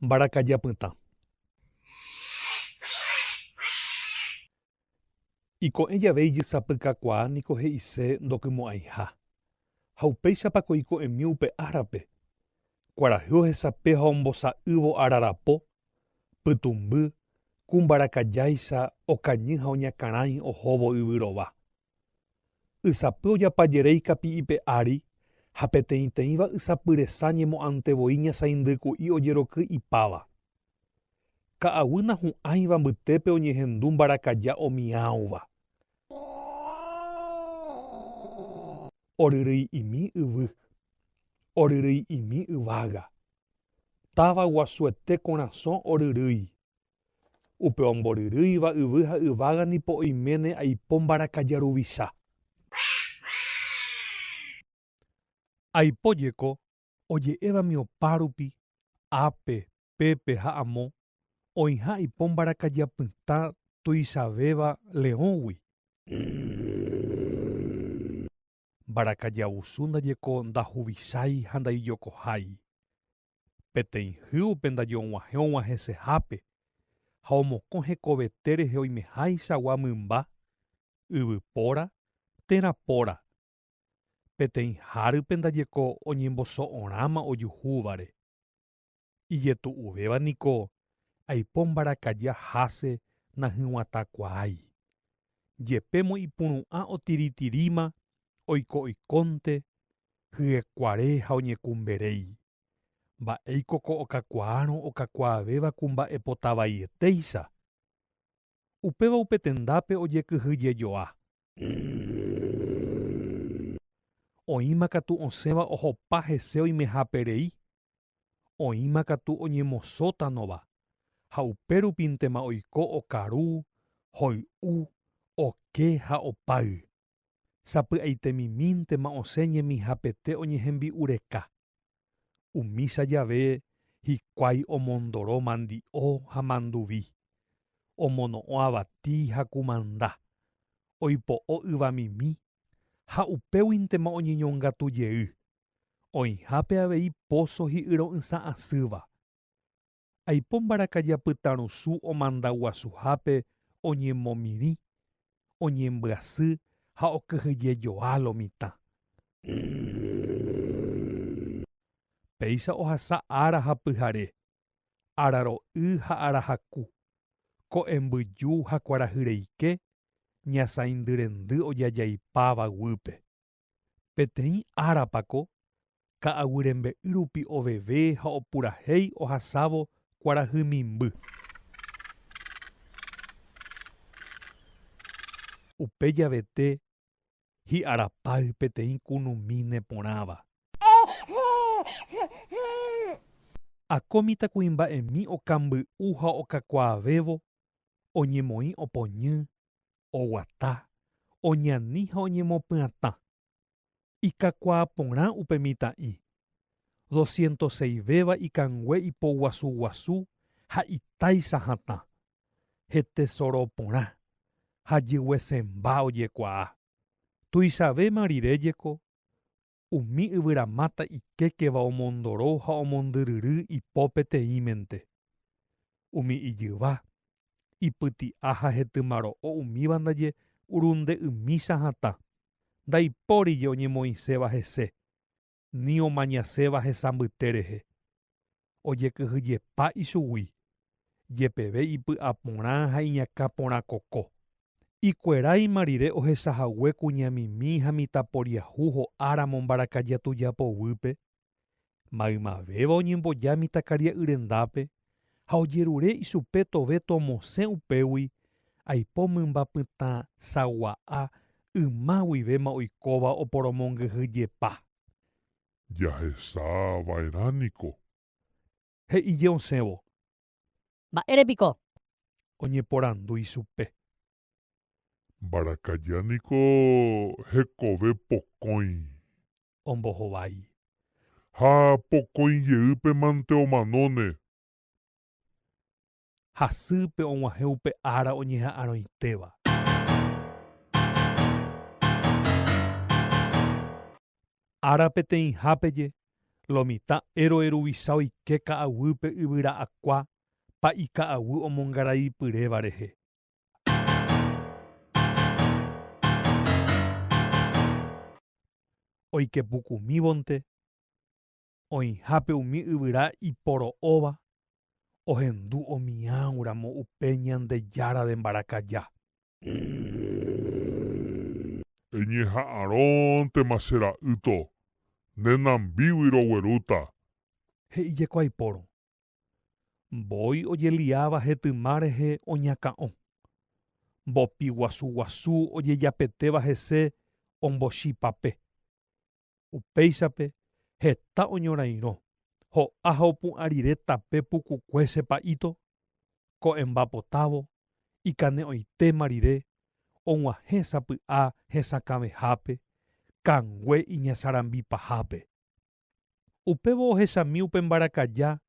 Mbarakaja pytã. Iko'ẽ jave ijysapykakuaa niko he'ise ndokymo'ãiha. Ha upéichapa ko iko'ẽmi upe árape? Kuarahy ohesape ha ombosa'ývo ararapo, pytũmby, ku mbarakajáicha okañy ha oñakãrãi ohóvo yvy rova. Ysapy ojapa jeréi kapi'ipe ári ha peteĩteĩva ysapy resa ñemo'ãnte voi ñasaindyku'i ojeroky ipáva. Ka'aguy nahu'ãiva mbytépe oñehendu mbarakaja omiãova. Oryryi'imi yvy. Oryryi'imi yvága. Táva guasuete korasõ oryrýi. Upe omboryrýiva yvy ha yvága nipo oiméne aipo mbarakaja ruvicha. Aipo jeko oje'évami opárupi, ápe, pépe ha amo, oĩha aipo mbarakaja pytã tuichavéva leõgui. Mbarakaja vusu ndajeko ndahuvicháiha ndaijokohái. peteĩ hy upe ndaje og̃uahẽ og̃uahẽsehápe ha omokõ hekovete rehe oimeháichagua mymba, yvypóra térã póra, peteĩ hárype ndaje ko oñemboso'orãma ojuhúvare. Ijetu'uvéva niko aipo mbarakaja háse nahyg̃uatãkuaái, jepémo ipuru'ã otiritiríma oiko oikónte hyekuare ha oñekumberéi. Mba'éiko ko okakuaárõ okakuaavéva kumba'epota vaietéicha? Upéva upe tendápe ojekyhyjejoa. Oĩma katu osẽva ohopa hese oimeháperei Oĩma katu oñemosótanova ha upérupintema oiko okaru, hoy'u, oke ha opáy. Sapy'aitemimíntema osẽ ñemihapete oñehembi'ureka. Umícha jave hikuái omondoro mandi'o ha manduvi, omono'õ avati ha kumanda, oipo'o yvamimi ha upéguintema oñeñongatu jey, oĩhápe avei póso hi'yro'ysã asýva. Aipo mbarakaja apytarusũ omandaguasuhápe oñemomirĩ, oñembyasy ha okyhyjejoa lo mitã. Péicha ohasa ára ha pyhare, araro'y ha arahaku, ko'ẽmbyju ha kuarahyreike ñasãindyrendy ojajaipáva guýpe. Peteĩ árapa ko ka'aguyrembe'y rupi oveve ha opurahéi ohasávo kuarahymimby. Upe javete hi'arapáy peteĩ kunumíne porãva. Akó mitãkuimba'emi okamby'u ha okakuaavévo oñemoĩ opoñy, oguata, oñani ha oñemopyatã. Ikakuaa porã upe mitã'i. Doscientos seis véva ikangue ipoguasu guasu ha itáicha hatã. hetesoro porã ha jyguesẽmba ojekuaa. Tuichavéma rire jeko, umi yvyramáta ikékeva omondoro ha omondyryry ipo peteĩmente. Umi ijyva, ipyti'a ha hetymaro'o umíva ndaje urunde ymícha hatã, ndaipórije oñemoĩséva hese, ni omañaséva hesambyte rehe, ojekyhyjepa ichugui, jepeve ipy'aporã ha iñakã porã koko. Ikueráima rire ohechahague kuñamimi ha mitãporiahu ho'áramo mbarakaja tuja poguýpe, maymavéva oñemboja mitãkaria'yrendápe, ha ojerure ichupe tove tomosẽ upégui aipo mymba pytã sagua'a yma guivéma oikóva oporomongyhy jepa. Jahecha va'erã niko. He'ije osẽvo. Mba'ére piko? Oñeporandu ichupe. Mbarakaja niko hekove pokõi. Ombohovái. Ha pokõi jeýpe mante omanóne. Hasýpe og̃uahẽ upe ára oñeha'arõitéva. Ára peteĩhápeje, lo mitã héroe ruvicha oike ka'aguýpe yvyra akua pa'i ka'aguy omongarai pyréva rehe. Oikepukumívonte oĩhápe umi yvyra iporo'óva ohendu omiãuramo upe Ñandejára de mbarakaja. Eñeha'arõntema che ra'ýto, ne nambígui roguerúta. He'ijeko aipórõ, Mbói ojeliáva hetyma rehe oñakã'o. Mbopi guasu guasu ojejapetéva hese ombochipape. Upéichape heta oñorairõ, ho'a ha opu'ã rire tape pukukue che pa'íto, ko'ẽmba potávo, ikane'õitéma rire, og̃uahẽ sapy'a hesakãvehápe, kangue iñasarambi pahápe. Upévo ohechami upe mbarakaja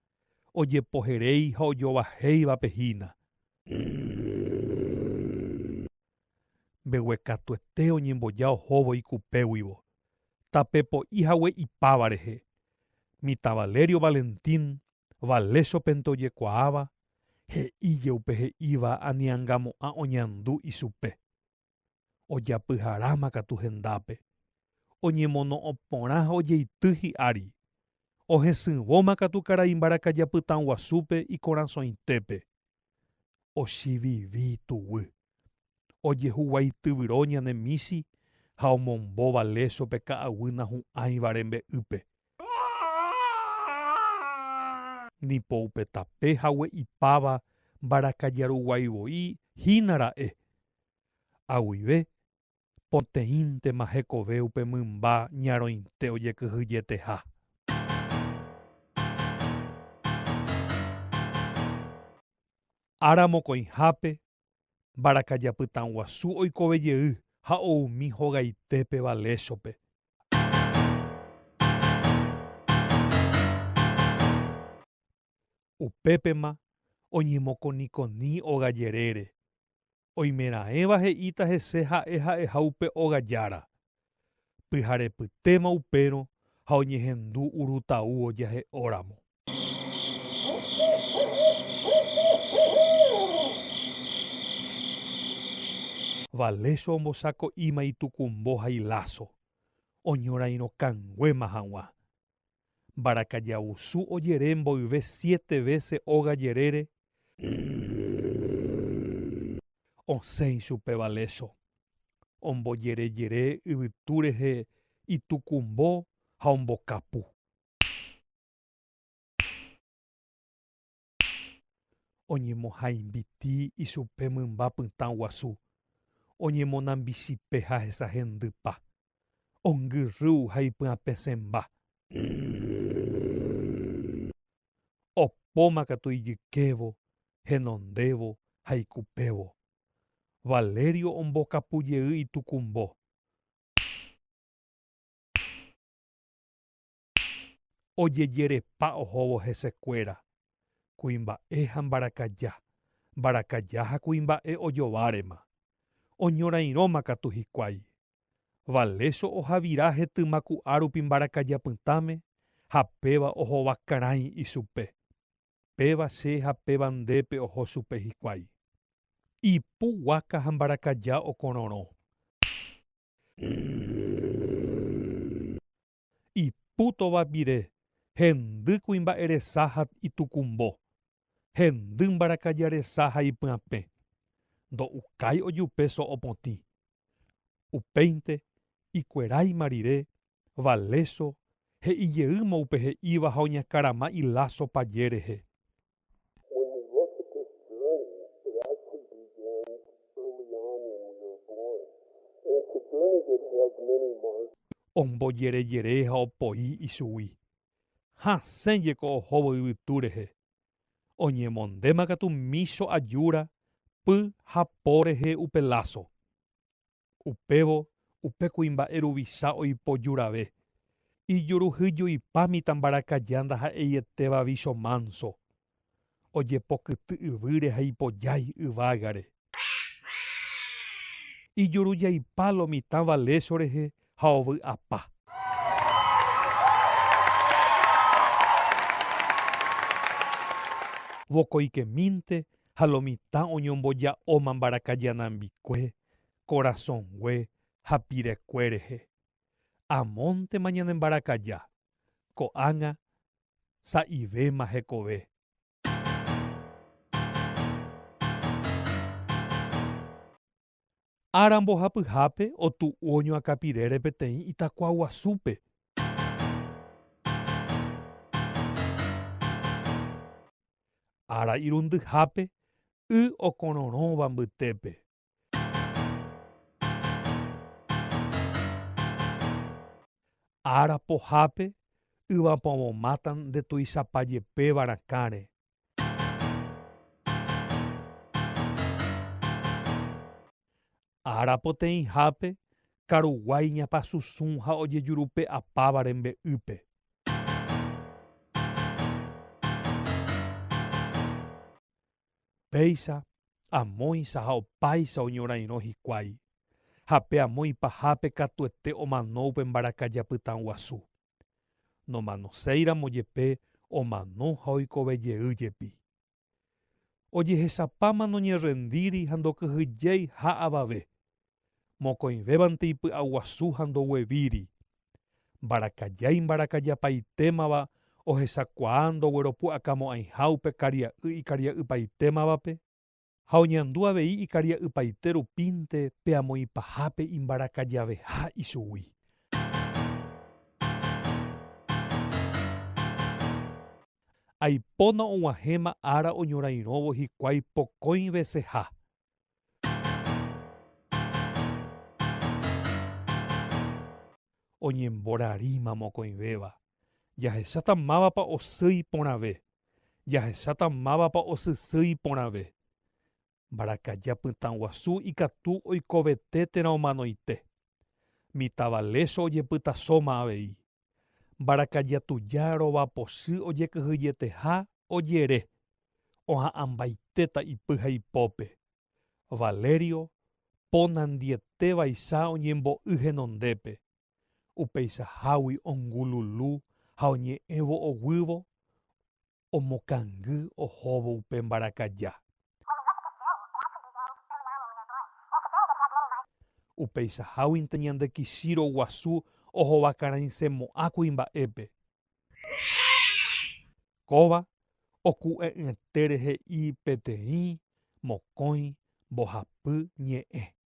ojepoheréi ha ojovahéivape hína. Mbeguekatuete oñemboja ohóvo ikupéguivo, tape po'i hague ipáva rehe. Mitã Valerio Valentín, Valésopente ojekuaáva, he'íje upe he'íva aniangamo'ã oñandu ichupe. ojapyharáma katu hendápe, oñemono'õ porã ha ojeity hi'ári, ohesỹvóma katu karai mbarakaja pytãguasúpe ikorasõitépe. Ochivivi tuguy, ojehuguaityvyro ñane michi ha omombóva lécho pe ka'aguy nahu'ãivare mbe'ýpe. Ni po upe tape hague ipáva mbarakajaruguaivoi hína ra'e, ha guive poteĩntema hekove upe mymba ñarõite ojekyhyjeteha. Ára mokõihápe, mbarakaja pytãguasu oikove jey ha oumi hogaitépe Valéshope. Upépema oñemokonikoni óga jerére. Oimeraẽva he'íta hese ha'e ha'eha upe óga jára. Pyharepytéma upérõ ha oñehendu urutau ojahe'óramo. Valecio ombosako'íma itukumbo ha iláso, oñorairõkanguéma hag̃ua. Mbarakajavusu ojere mboyve siete vése óga jerére, osẽ ichupe valéso. Ombojerejere yvytu rehe itukumbo ha ombokapu. Oñemohãimbiti ichupe mymba pytã guasu, oñemonambichipe ha hesahendypa, ongyrrýu ha ipy'apesẽmba. Opóma katu ijykévo, henondévo ha ikupévo. Valerio ombokapu jey itukumbo. ojejerepa ohóvo hesekuéra, kuimba'e ha mbarakaja, mbarakaja ha kuimba'e ojovárema, oñorairõma katu hikuái. Valécho ohavira hetyma ku'árupi mbarakaja pytãme ha péva ohova karãi ichupe, péva che ha péva ndépe oho chupe hikuái. Ipu guáka ha mbarakaja okororõ. ipútova pire, hendy kuimba'e resa ha itukumbo, hendy mbarakaja resa ha ipyapẽ, ndo'ukái ojupe so'o potĩ. Upéinte, ikueráima rire, Valeso, he'i jeýma upe he'íva ha oñakarama iláso paje rehe. When we look at this journey, it actually begins early on when we are born. And it's a journey that has many markers. Ombojerejere ha opoi ichugui. Hasẽ jeko ohóvo yvytu rehe. Oñemondéma katu mícho ajúra, py ha po rehe upe láso. Upévo upe kuimba'e ruvicha oipoju rave, ijuruhyjuipa mitãmbarakaja ndaha'eietéva vícho mánso. Ojepokyty yvýre ha ipojái yvágare. Ijurujaipa lo mitã va lécho rehe ha ovy'apa. Vokoikemínte ha lo mitã oñomboja'óma mbarakaja nambikue korasõngue ha pirekue rehe. Amóntema ñanembarakaja, ko'ág̃a sa'ivéma hekove. Ára mbohapyhápe otu'u oñoakapirére peteĩ itakua guasúpe. Ára irundyhápe y okororõva mbytépe. Ára pohápe yvapovomáta nde tuichapa jepéva rakãre. Ára poteĩhápe karuguái ñapasusũ ha ojejurupe'apáva rembe'ýpe. Péicha, amóicha ha opáicha oñorairõ hikuái, ha pe amo ipahápe katuete omano upe mbarakaja pytã guasu. Nomanoséiramo jepe omano ha oikove jey jepi. Ojehechapáma noñerrendíri ha ndokyhyjéi ha avave, mokõivévante ipy'aguasu ha ndoguevíri. Mbarakaja imbarakajapaitémava ohechakuaa ndogueropu'akamo'ãiha upe karia'y ikaria'ypaitémavape, ha oñandu avei ikaria'ypaite rupínte pe amoĩpahápe imbarakajaveha ichugui. Aipóna og̃uahẽma ára oñorairõvo hikuái pokõi veseha, Oñemborarĩma mokõivéva. Jahecháta mávapa osýi porãve. Jahecháta mávapa osysýi porãve. Mbarakaja pytãguasu ikatu oikovete térã omanoite. Mitãva lécho ojepytasóma avei. Mbarakaja tuja rovapochy ojekyhyjeteha ojere, oha'ãmbaitéta ipy ha ipópe. Valerio ponandiete vaicha oñembo'y henondépe, upeichahágui ongululu ha oñe'ẽvo oguývo omokangy ohóvo upe mbarakaja. Upeichaháguinte ñande Kishiro guasu ohovakaraisẽmo'ã kuimba'épe. Kóva oku'e'ỹete rehe'i peteĩ mokõi mbohapy ñe'ẽ.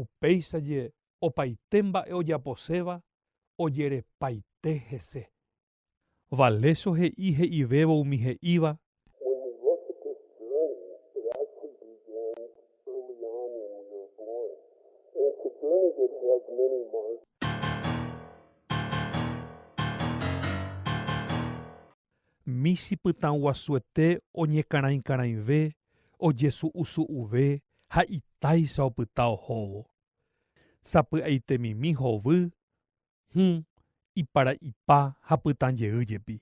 Upéicha jee opaite mba'e ojaposéva ojerepaite hese. Valecio he'i he'ivévo umi he'íva. Michĩ pytãguasuete oñekarãikarãive, ojesu'usu'uve ha itáicha opyta ohóvo. Sapy'aitemimi hovy, hũ, iparaipa ha pytãjey jepi.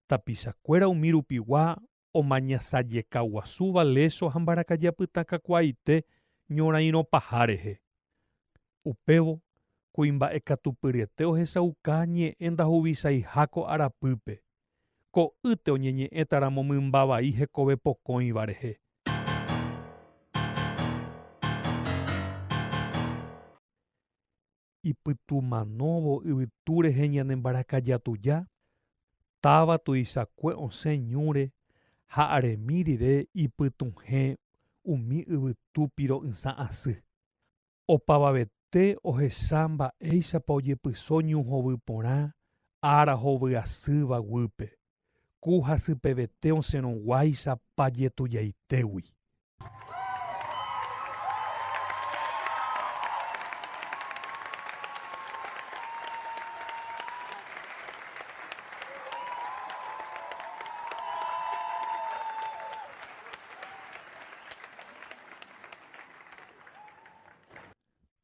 Tapichakuéra umi rupigua omañasajekaguasúva léso ha mbarakaja pytãkakuaaite ñorairõ paha rehe. Upévo, kuimba'ekatupyryete ohechauka ñe'ẽ ndahuvisaiha ko arapýpe, ko'ýte oñeñe'ẽtaramo mymba vai hekove pokõiva rehe. ipytumanóvo yvytu rehe ñane mbarakaja tuja, táva tuichakue osẽ ñúre ha aremi rire ipytuhẽ umi yvytu piro'ysã asy. Opavavete ohecha mba'éichapa ojepyso ñu hovy porã ára hovy asýva guýpe. ku hasypevete osẽrõguáicha pajetujaitégui.